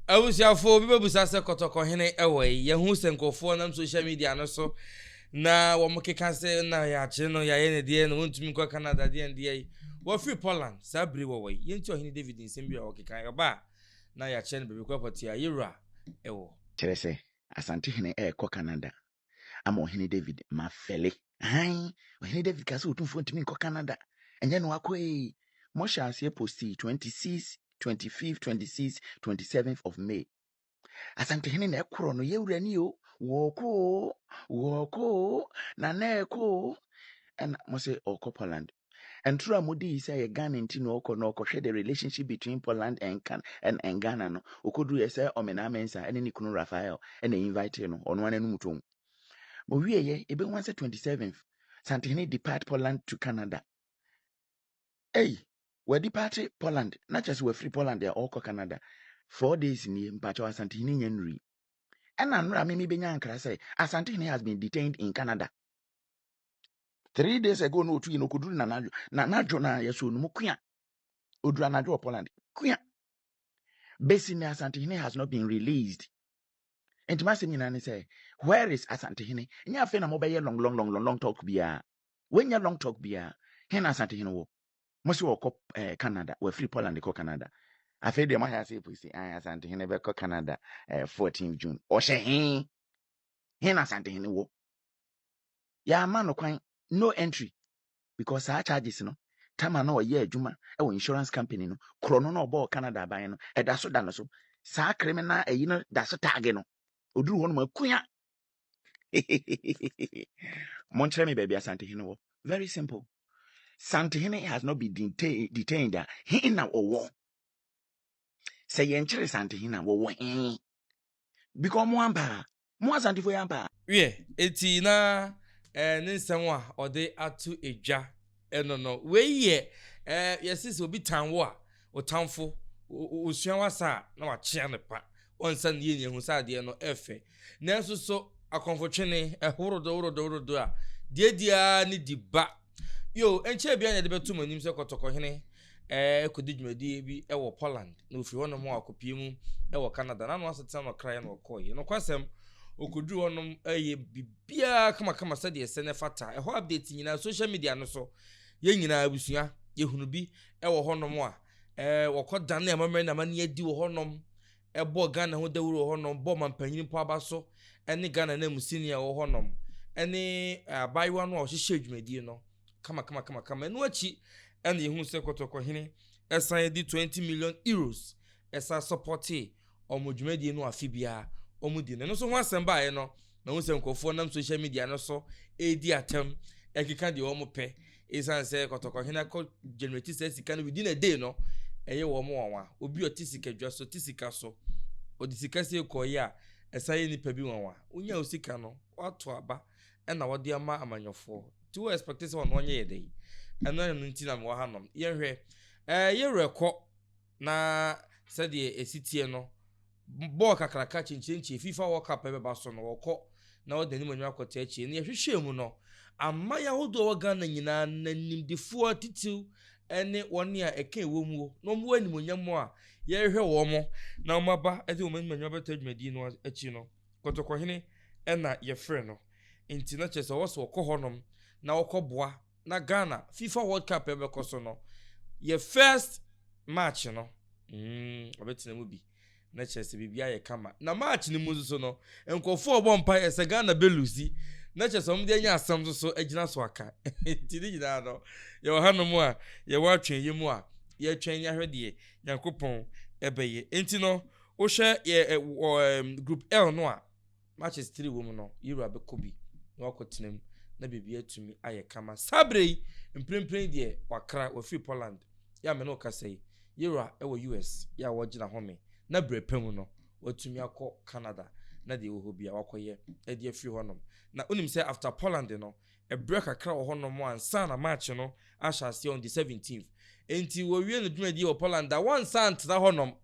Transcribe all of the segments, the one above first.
Abusuafo bi bebisa sɛ, Kɔtɔkɔhene wɔ he? Yɛahu sɛ nkurɔfoɔ nam social media no so na wɔkeka sɛ na yɛakyere no, yɛayɛ no deɛn, na ɔntumi nkɔ Canada deɛn deɛn. Wafiri Poland saa bere yi wɔwɔ he? Yɛntie Ɔhene David nsɛm bi a ɔkekaeɛ. Ɔba a, na yɛakyerɛ no baabi kɔ pɔtee a Yera wɔ. Kyerɛ sɛ, Asante hene rekɔ Canada. ama ɔhene david ma fɛle hann ɔhene david kaa sɛ ɔtumfoɔ ntumi nkɔ canada ɛnyɛ no akɔ ee mohyɛ aseɛ posti 26 25 26 27 of may asantehene na ɛkorɔ no yɛwura ni o wɔɔkoo wɔɔkoo na na ɛkoo ɛna mo sɛ ɔkɔ poland Ntoro a mode yi sɛ yɛ Ghana nti na ɔkɔ na ɔkɔhwɛ the relationship between Poland and Can and, and Ghana no. Okoduru yɛ sɛ Ɔmenaa Mensah ɛne ne kunu Raphael ɛna invite no. Ɔno ara n'anum tɔn. Mo wie yɛ ebehu asɛ 27th Santehene depart Poland to Canada. Ei, wadi party Poland na kyerɛ sɛ wafiri Poland a ɔkɔ Canada. Four days nie mpakyɛw Asantehene nya nnuri. Ɛna nnora me mebenya nkra sɛ Asantehene has been detained in Canada. three days ago na otu yi na okoduru na n'adwo na n'adwo na yɛsɔ no mu kua oduru anadwo wɔ poland kua besi ne asantehene has not been released nti masɛm nyinaa ne sɛ where is asantehene nyɛ afei na mobɛyɛ long long long long long talk biara wɔnyɛ long talk biara he na asantehene wɔ mo sɛ wɔkɔ eh, canada wɔafiri poland kɔ canada afei deɛ moayɛ ase pusi ayɛ asantehene bɛkɔ canada eh, 14 june ɔhyɛ he he na asantehene wɔ yɛama no kwan no entry because saa charges no tama na ɔyɛ adwuma wɔ insurance company no korɔ no na ɔbɔɔ canada aban no ɛda so da no so saa criminal ayi no da so tag no ɔduru hɔ nom akua monkyerɛ me baabi asantehene wɔ very simple santehene has not been detained, detained a he na ɔwɔ sɛ yɛnkyere santehene a wɔwɔ he because ɔmo ampa Mo Asantefo yi ampa? Wiɛ, enti na eh, ne nsɛm a ɔde ato edwa ɛno no. Wei yɛ eh, yɛse sɛ obi tan wo a, ɔtamfo, osua wasa a, na wakyea no pa. Ɔnsa ne yɛn ehu sɛ adeɛ no ɛfɛ. Nanso so akɔmfotwene ɛhorodo horodo horodo a, deɛdeɛ ara ne di ba. Bio, ɛnkyɛɛ biara na ɛde bɛtoo mo anim sɛ kɔtɔkɔ hene rekɔdi dwumadie bi wɔ Poland, na ɔfiri hɔnom a ɔkɔpie mu wɔ Canada, na ano asetena no ɔkraeɛ na ɔkɔeɛ. Nokwasɛm, ɔkɔduru hɔnom yɛ biribiara kamakama sɛdeɛ ɛsɛ na ɛfata. Ɛhɔ updates nyinaa, social media no so, yɛn nyinaa abusua, yɛhunu bi wɔ hɔnom a wɔkɔdane amammerɛ ne amanneɛ adi wɔ hɔnom. ɛbɔ Ghana ho dawuru wɔ hɔnom, bɔ ɔmampanyin mpo aba so ne Ghana nanmusini a ɔwɔ hɔnom ne abaayewa no a ɔhyehyɛɛ dwumadie no kamakamakamakama. Ɛno akyi na yɛhunu sɛ Kɔtɔkɔhene san de 20 million euros san sɔpɔtee wɔn dwumadie no afe biara wɔdi no. Ɛno nso ho asɛm baeɛ no, Mahu sɛ nkurɔfoɔ nam social media no so redi atɛm ɛkeka deɛ wɔn pɛ ɛsiane sɛ kɔtɔkɔhene akɔ generate saa sika no within a day no ɛyɛ wɔn nwanwa obi ɔte sika dwa so te sika so ɔde sika sie kɔɔyɛ a ɛsan yɛ nipa bi nwanwa wonya wo sika no wato aba ɛna wɔde ama amanyɔfoɔ nti wo expect sɛ ɔno ɔnyɛ yɛ dɛ yi ɛno ɛno nti na mewɔ ha nom yɛnhwɛ ɛɛ yɛwerɛ kɔ Na sɛdeɛ ɛsi teɛ no, bɔɔl kakraka kyenkyenkyee Fifa World Cup a ɛbɛba so no, wɔkɔ na wɔde anim anim akɔto akyire no. Yɛhwehwɛɛ mu no, aman ahodoɔ a ɛwɔ Ghana nyinaa no animdefoɔ atitiriw ne wɔn a ɛka ɛwom wɔ na wɔwɔ animuonyam a yɛrehwehwɛ wɔn na wɔaba de wɔn anim anim abɛto adwumadie no akyi no, Kɔtɔkɔhene na yɛfrɛ no. Enti na kyerɛ sɛ wɔwɔ sɛ wɔkɔ hɔnom na wɔkɔboa na Ghana fifa world cup ɛbɛkɔ so no yɛ first match no mm ɔbɛtena mu bi na kyerɛ sɛ biribi ayɛ kama na match no mu nso so no nkurɔfoɔ ɔbɔ mpa yɛ sɛ Ghana bɛlusi na kyerɛ sɛ wɔn de anya asɛm nso so agyina so aka nti ne nyinaa no yɛwɔ hanom a yɛwɔ atwɛn yɛ mu a yɛtwɛn ne ahwɛ deɛ Nyankopɔn ɛbɛyɛ nti no wohwɛ yɛ wɔ group L no a Matches tiri wom no, yɛn wura bɛkɔ bi na wakɔtena mu na biribi atumi ayɛ kama. Saa berɛ yi, mprempren yi deɛ wakra, wafiri Poland. Yɛ a me ne wo kasa yi, yɛn wura wɔ US. Yɛ a wɔregyina home na berɛ pa mu no, watumi akɔ Canada na deɛ ɛwɔ hɔ biara wakɔyɛ de afiri hɔnom. Na wonim sɛ after Poland no, berɛ kakra wɔ hɔnom ansa na match no ahyɛ aseɛ on the seventeenth. Enti wɔwie ne dwumadie wɔ Poland a, wɔnsan ntena hɔnom.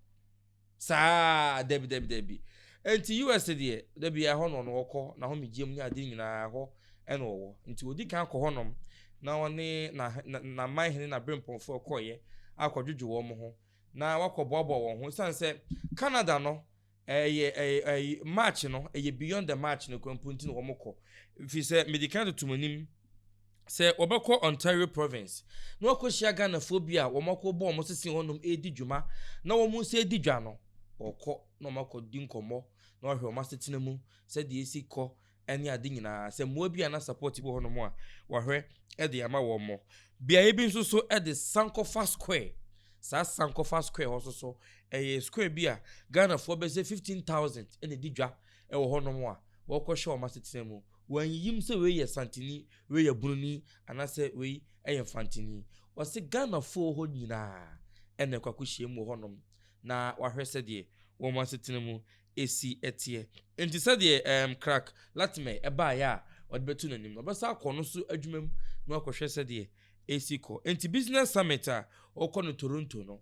Saa, dabi, dabi, dabi. Nti US deɛ, dabi ɛhɔ na ɔno ɔkɔ, n'ahomegyeɛm ne ade nyinaa ɛhɔ ɛna ɔwɔ. Nti ɔdi kan kɔ hɔnom na ɔne na, na, n'aman hene, n'aberempɔnfoɔ kɔeɛ akɔdwodwo wɔn ho na wɔakɔboaboa wɔn ho. Ɛsiane sɛ Canada no, ɛyɛ, ɛyɛ, ɛyɛ March no, ɛyɛ beyond the March no koraa mpo nti na wɔkɔ. Ɛfiri sɛ, medi kan toto mo anim. Sɛ wɔbɛkɔ Ontario Province na wɔakɔhyia Ghanafoɔ bi a wɔakɔ bɔ wɔn sese hɔnom redi dwuma na wɔn nsa adi dwa no, wɔkɔ na wɔakɔdi nkɔmmɔ na wɔahwɛ wɔn asetena mu sɛdeɛ ɛsi kɔ ne ade nyinaa. Sɛ mmoa bi anaa support bi wɔ hɔnom a, wɔahwɛ de ama wɔn. Beaeɛ bi nso so de Sankofa Square, saa Sankofa Square hɔ nso so, ɛyɛ square bi a Ghanafoɔ bɛsɛ 15,000 na ɛdi dwa wɔ hɔnom a wɔkɔhwɛ wɔn asetena mu. Wɔannyim sɛ wei yɛ Santini, wei yɛ Bununi anaasɛ wei yɛ Mfantini. Wɔse Ghanafo wɔ hɔ nyinaa na ɛkɔ akɔhyiam wɔ hɔnom na wɔahwɛ sɛdeɛ wɔn asetena mu si teɛ. Enti sɛdeɛ ɛɛm Crack Latimer baeɛ a wɔde bɛto n'anim no, ɔbɛsan akɔ ɔno nso adwuma mu na wakɔhwɛ sɛdeɛ ɛresi kɔ. Enti Business Summit a wɔkɔ no Toronto no,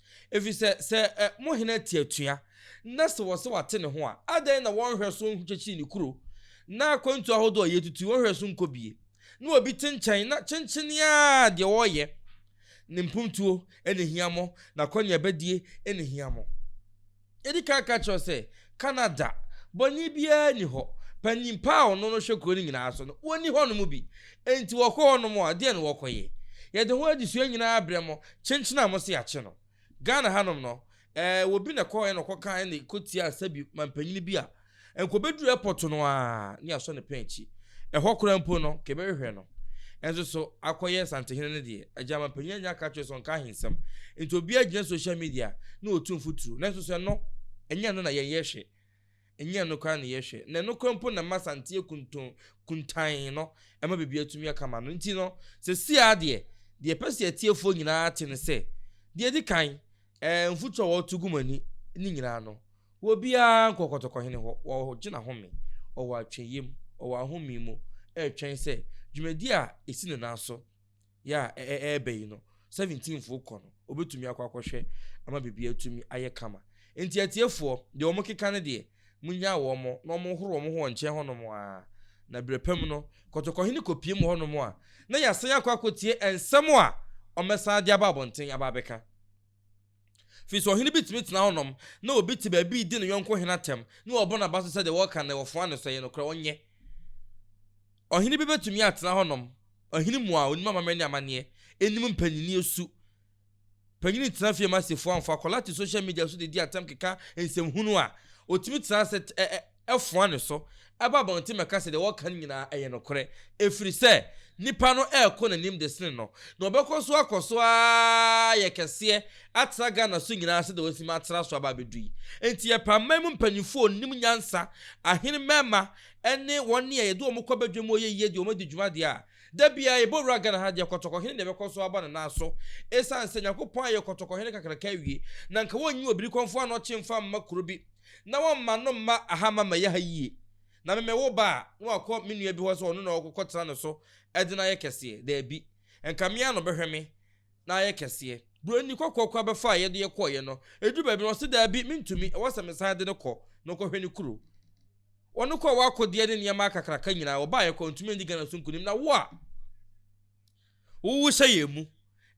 Ɛfiri sɛ, sɛ ɛ, mo hene te atua, na sɛ wɔse wate ne ho a, adɛn na wɔnhwɛ so nkyekyere ne kuro, na akwantuo ahodoɔ a yɛatutu yi wɔnhwɛ so nkɔbie? Na obi te nkyɛn, na kyenkyenee ara deɛ ɔreyɛ, ne mpuntuo na ɛhia mo, n'akwanneɛbadie na ɛhia mo. Yɛdi kan ka kyerɛ wo sɛ, Canada, bɔne biara nni hɔ. Panimpa a ɔno no hwɛ kuro no nyinaa so no, wɔnni hɔnom bi. Enti wɔkɔ hɔnom a, deɛn na wɔkɔyɛ? Yɛde ho adesua nyinaa brɛ mo, kyenkyen a mose yɛakye no. Ghana hanom no, ɛɛ, obi na ɛkɔeɛ na ɔkɔkaa na ɛkɔtiaa sɛbi mampanyini bi a Nka obedu airport no ara ne yɛasɔ ne pɛn akyi. Ɛhɔ koraa mpo no, nka yɛbɛhwehwɛ no. Ɛnso so, akɔyɛ Asantehene no deɛ, Agyaman panyin annya anka akyerɛ sɛ ɔnka ahensɛm. Enti obiara gyina social media na ɔtu mfuturo. Nanso so ɛno, ɛnyɛ ɛno na yɛn yɛhwɛ? Ɛnyɛ ɛno koraa na yɛhwɛ. Na ɛno koraa mpo na ɛma Asanteɛ kunton, kuntann no, ɛma biribiara tumi yɛ kama no. Enti no, seesei ara deɛ, deɛ yɛpɛ sɛ yɛn atiefoɔ nyinaa te ne sɛ, deɛ ɛdi kan, Ɛɛ, mfutu a wɔto gu mo ani ne nyinaa no, wɔ biara nkɔ ɔkɔtɔkɔhene hɔ, ɔgyina home, ɔwɔ atweyiam, ɔwɔ ahome mu, ɛretwɛn sɛ dwumadi a esi ne nan so yɛ a ɛreba yi no, seventeenfo kɔ no, obetumi akɔ akɔhwɛ ama biribiara atumi ayɛ kama. Enti atiefoɔ, deɛ wɔkeka no deɛ, Munnyaa wɔn mo na wɔnhoro wɔn ho wɔn nkyɛn hɔnom ara. Na berɛ pa mu no, kɔtɔkɔhene kɔpue mo hɔnom a, na yɛasan akɔ akɔtie nsɛm a wɔbɛsan de aba abɔnten aba abɛka. Ɛfiri sɛ ɔhene bi tumi tena hɔnom na obi te baabi redi ne yɔnko hene atɛm na wabɔ n'aba so sɛ deɛ wɔreka no na wɔfoa no so, ɛyɛ nokorɛ? Ɔnyɛ. Ɔhene bi bɛtumi atena hɔnom, ɔhene mu a ɔnim amammerɛ ne amanneɛ, ɛnim mpanini su, Panyin tena fie ma sefo amfa akwadaa to social media so de di atam keka nsɛm hunu a, otumi tena ase foa ne so ba abɔnten bɛka sɛ deɛ wɔka no nyinaa ɛyɛ nokorɛ ɛfiri sɛ nipa no ɛrekɔ n'anim de sene no na ɔbɛkɔ so akɔ so ara yɛ kɛseɛ atra Ghana so nyinaa sɛdeɛ wasi ma atra so aba abɛdu yi enti yɛpɛ aman mu mpanyinfoɔ onim nyansa ahene mmarima ɛne wɔn a yɛde wɔn kɔ badwam ɔyɛ yie deɛ wɔn adi dwuma deɛ a Da biara yɛbɔ wura Ghana ha deɛ kɔtɔkɔhene na ɛbɛkɔ so aba ne nan so ɛsiane sɛ Nyankopɔn ayɛ kɔtɔkɔhene kakraka awie na nka wɔnyi Obirikɔmfoɔ Anɔkye mfa mma kuro bi na wɔmma no mma aha ma mɛyɛ ha yie na me mɛwo ba a na wakɔ me nua bi hɔ sɛ ɔno na ɔkɔkɔtena ne so de no ayɛ kɛseɛ, daabi nka me ara na ɔbɛhwɛ me. na ayɛ kɛseɛ. Buroni kɔkɔɔ koraa bɛfaa a yɛde kɔeɛ no. Ɛduruu baabi no, ɔse, Daabi, mentumi, ɛwɔ sɛ mesan de no kɔ na ɔkɔhwɛ ne kuro. Wɔde kɔɔ hɔ akodeɛ ne nneɛma akakraka nyinaa. Wɔbaeɛ koraa, ɔntumi andi Ghana so nkonim. Na wo a wowo hyɛ yɛn mu,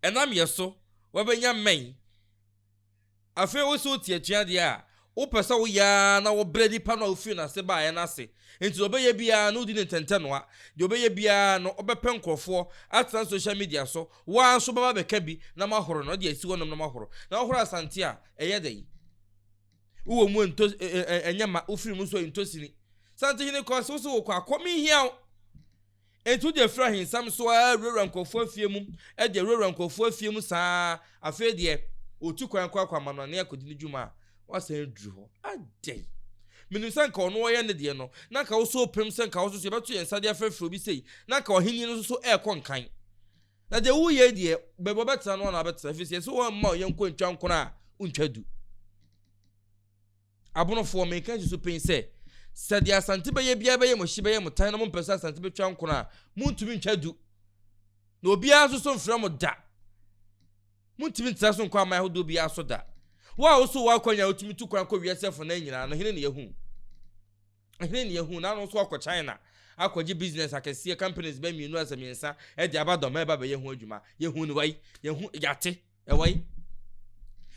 ɛnam yɛn so, woabɛnya mmɛn. Afei wo se wote atuadeɛ a, wopɛ sɛ woyɛ ara na wobrɛ nipa no a wofiri n'ase baeɛ no ase. Enti deɛ ɔbɛyɛ biara no wodi no ntɛntɛnoa. Deɛ ɔbɛyɛ biara no wobɛpɛ nkorɔfoɔ atena social media so, wo ara nso wobɛba abɛka bi na moahoro no de asi hɔnom na moahoro. Na wohoro Asante a, ɛyɛ dɛn? Wowɔ mu ntɔ ɛnyɛ ma, wofiri mu nso ntɔ sini. Santehene kɔɔ se wo se wokɔ a, kɔ menhia wo. Enti wogye firi ahensɛm so ara wurawura nkurɔfoɔ afie mu gye wurawura nkurɔfoɔ afie mu saa ara, afei deɛ ɔtu kwan kɔ akɔ amanɔne akɔdi ne dwuma a, woasan aduru hɔ adɛn? Menim sɛ anka ɔno ɔyɛ ne deɛ no, na anka wo nso wopem sɛ anka wo nso so yɛbɛto yɛn nsa de afrɛfrɛ obi sei, na anka ɔhennie no nso so rekɔ nkan. Na deɛ woreyɛ yi deɛ, baabi a ɔbɛtena no ara na wabɛtena, ɛfiri sɛ yɛse wo mma wo yɔnko ntwa nkono a, wontwa du. Abonofoɔ, menka nsusu pen sɛ, sɛ deɛ Asante bɛyɛ biara bɛyɛ mo hye, bɛyɛ mo tan na mompɛ sɛ Asante bɛtwa nkono a, montumi ntwa du. Na obiara nso so mfrɛ mo da. Montumi ntra so nkɔ aman ahodoɔ biara so da. Wo a woso w'akwan a wotumi tu kwan kɔ wiase afanan nyinaa no, hene na yɛhu? Hene na yɛhu? Na ano nso akɔ China akɔgye business akɛseɛ, companies bɛ mmienu asɛ mmiɛnsa de aba dɔm ɛreba bɛyɛ ho adwuma. Yɛhu no wai? Yɛhu, yɛate. Ɛwɔ he?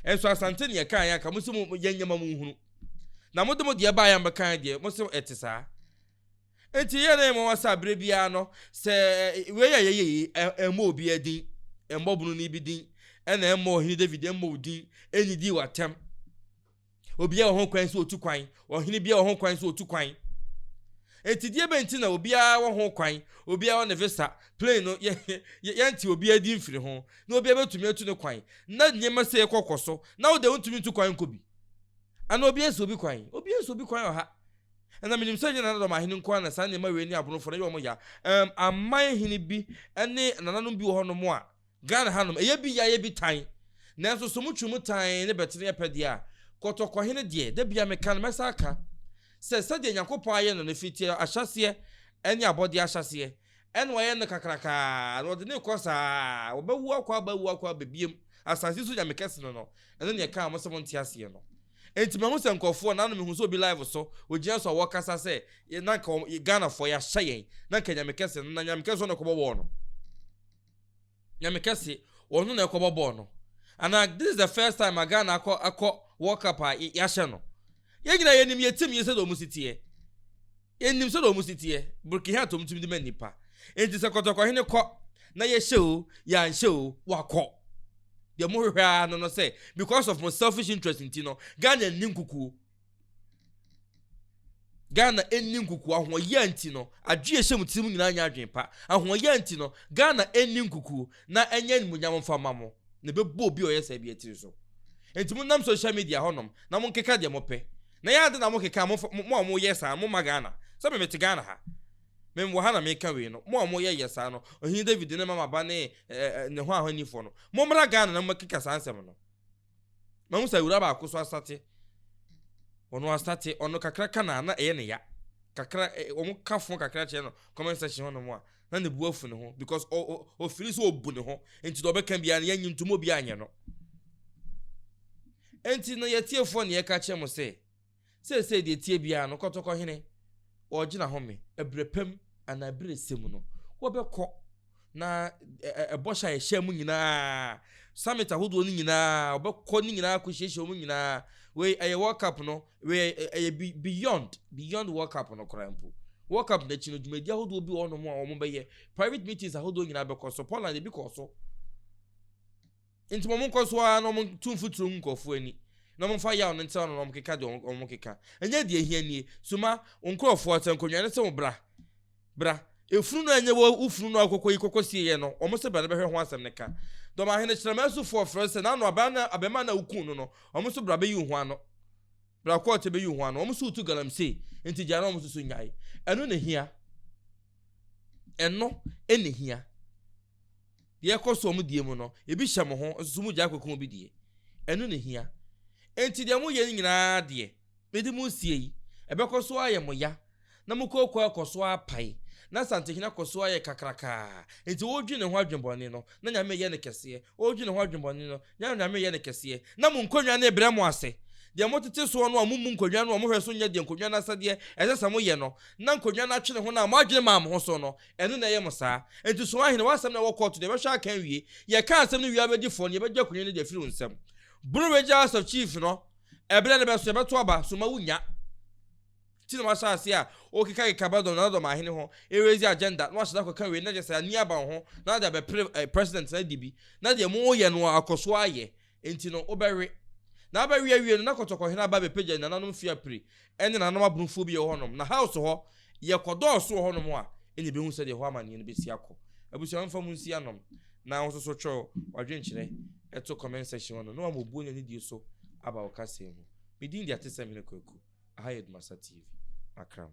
Nso Asante neɛ ɛkaeɛ anka mose mo yɛ nneɛma mo nhunu. Na mode mo deɛ baeɛ a mobɛkaeɛ deɛ mose ɛte saa. Nti yɛ na yɛ nwanwa saa berɛ biara no sɛ wei a yɛyɛ yi ɛmmɔ obiara din, ɛmmɔ bununi bi din, ɛna ɛmmɔ ɔhene David ɛmmɔ wo din, ɛnnidi w'atɛm. Obiara wɔ ho kwan sɛ otu kwan. Ɔhene biara wɔ ho kwan sɛ otu kwan. Enti deɛ bɛn nti na obiara wɔ ho kwan, obiara wɔ ne visa, plane no, yɛ, yɛ, yɛnte obiara din mfiri ho, na obiara bɛtumi atu ne kwan, na nneɛma sei kɔ kɔ so, na wo deɛ wontumi ntu kwan nkɔ bi? Anaa obiara nsi obi kwan? Obiara nsi obi kwan wɔ ha. Ɛna menim sɛ ɛnyɛ nanadɔm ahene nko ara na saa nneɛma wei ne abonofoɔ no yɛ wɔn ya. Ɛm, aman hene bi ne nananom bi wɔ hɔnom a, Ghana hanom, ɛyɛ bi yɛ ayɛ bi tan. Nanso so motwe mu tan ne bɛtene yɛ pɛ deɛ a, Kɔtɔkɔhene deɛ, da biara meka no, mɛsan aka sɛ sɛdeɛ Nyankopɔn ayɛ no no firi teɛ ahyɛaseɛ ne abɔdeɛ ahyɛaseɛ, ɛna wayɛ no kakraka ara, na ɔde no rekɔ saa ara, wɔbɛwo akɔ aba, awu akɔ aba bio, asase so Nyame kɛse no no, ɛno na yɛkaa mo sɛ monte aseɛ no. Enti mahu sɛ nkurɔfoɔ, nano mehu sɛ obi live so, ɔgyina so a wɔkasa sɛ na nka Ghanafoɔ yɛahyɛ yɛn, na nka Nyame kɛse no, na Nyame kɛse no na ɛkɔbɔ wɔɔ no. Nyame kɛse, wɔn no na ɛkɔbɔ bɔɔl no anaa this is the first time ma Ghana akɔ akɔ World Cup a yɛahyɛ no. Yɛn nyinaa yɛnim yɛn team yi sɛdeɛ wɔn si teɛ. Yɛnim sɛdeɛ wɔn si teɛ. Burkina atom tumi de ma nnipa. Enti sɛ kɔtɔkɔhene kɔ na yɛhyɛ o, yɛanhyɛ o, wakɔ. Deɛ mohwehwɛ ara no no sɛ because of mo selfish interest nti no, Ghana nni nkukuo. Ghana nni nkukuo. Ahoɔyea nti no, adwene a ɛhyɛ mo tirim nyinaa nyɛ adwene pa. Ahoɔyea nti no, Ghana nni nkukuo. Na ɛnyɛ animuonyam mfa mma mo. Na ɛbɛbɔ obi a ɔyɛ saa biara tiri so. Enti monnam social media hɔnom na monkeka deɛ mopɛ. Na ɛyɛ ade na mokeka a, mo a moyɛ saa no, momma Ghana. Sɛ me mete Ghana ha. Me wɔ ha na meka wei no. Mo a moyɛ yɛ saa no, Ɔhene David ne Mama Ba ne ne ho ahɔnnifoɔ no, mommra Ghana na mommɛkeka saa nsɛm no. Mahu sɛ awuraa baako so asate. Ɔno asate, ɔno kakra ka na na ɛyɛ ne ya. Kakra, eh, wɔn ka fo kakra kyerɛ no comment section hɔnom a, na ne bu afu ne ho because ɔfiri sɛ ɔbu ne ho, nti deɛ ɔbɛka biara no yɛnyi ntom obi anyɛ no. Nti no yɛtiefoɔ ne yɛka kyerɛ mo sɛ, Seesei deɛ ɛteɛ biara no, kɔtɔkɔhene, wɔregyina hɔ me, ɛberɛ pa mu anaa ɛberɛ ɛsɛ mu no, wɔbɛkɔ, na ɛbɔhyɛ a yɛhyɛɛ mu nyinaa, summit ahodoɔ no nyinaa, wɔbɛkɔ ne nyinaa akɔhyiahyia wɔn nyinaa, wei ɛyɛ World Cup no, wei ɛyɛ beyond, beyond World Cup no koraa mpo. World Cup no akyi no, dwumadie ahodoɔ bi wɔ hɔnom a wɔbɛyɛ, private meetings ahodoɔ nyinaa bɛkɔ so, Poland ebi kɔɔ so, Enti ma wɔnkɔ so ara na wɔnto mfuturo ngu nkurɔfoɔ ani, na wɔmfa yaw no ntra no na wɔnkeka deɛ wɔkeka. Ɛnyɛ deɛ ɛhia nie. Soma wo nkurɔfoɔ sɛ nkonnwa no se wo bra. Bra. Efunu no a ɛnyɛ wo funu no a wokɔkɔyi kɔkɔsieeɛ no, wɔn se bra na bɛhwɛ ho asɛm no ka. Dɔm ahene Kyerɛmɛn sofoɔ frɛ sɛ n'ano abarimaa no a wokum no no, wɔn se bra bɛyi wo ho ano. Bra kɔɔte bɛyi wo ho ano. Wɔn se wotu galamsey, enti gyae na wɔn nso so nnyae. Ɛno na ɛhia. Ɛno na ɛhia. Deɛ ɛkɔ soɔ mo die mu no, ebi hyɛ mo ho, nso so mogyae kɔku obi deɛ, ɛno na ɛhia. Enti deɛ moyɛ no nyina ara deɛ, mede mo resie yi, ɛbɛkɔ so ayɛ mo ya, na mo kooko akɔ so apae, na Asantehene akɔ so ayɛ kakrakaa. Enti ɔredwene ne ho adwenbɔne no, na Nyame reyɛ no kɛseɛ, ɔredwene ne ho adwenbɔne no, na Nyame reyɛ no kɛseɛ, na mo nkonnwa no rebrɛ mo ase, deɛ motete soɔ no a mommu nkonnwa no a mohwɛ so nyɛ deɛ nkonnwa no asɛdeɛ ɛsɛ sɛ moyɛ no, na nkonnwa no atwene ho no a moadwene maa mo ho so no, Ɛno na ɛyɛ mo saa. Enti so ahene, w'asɛm na ɛwɔ kɔɔto de, ɛbɛhwɛ aka awie? Yɛka asɛm no wie a wobɛdi fɔ, na yɛbɛgye akonya no de afiri wo nsam. Boro bɛgye House of Chiefs no, ɛberɛ no bɛso, yɛbɛto aba, so mma wonnya. Nti na wahyɛ aseɛ a ɔrekekakeka Abaddon Nanadɔm ahene ho, ɛreraise agenda, na wahyɛ da akɔka wei, na kyerɛ sɛ ani aba wo ho, na wode abɛpere President no adi bi, na deɛ moyɛ no akɔ so ayɛ. Enti no, wobɛwe. Na abɛwe awie no, na Kɔtɔkɔhene aba abɛpagya nananom Fiapre ne nananom Abronfoɔ bi wɔ hɔnom. Na House hɔ, yɛkɔdɔɔso wɔ hɔnom a, ɛnna yɛbɛhu sɛdeɛ ɛhɔ amanneɛ no bɛsi akɔ. Abusua mfa mo nsi anom, na wo nso so twerɛ w'adwenkyerɛ to comment section hɔ nom, na wama obuo ne anidie so aba wo kasa yi ho. Me din de Atesɛmhene Kwaku, aha yɛ Dumasa TV, Accra mu.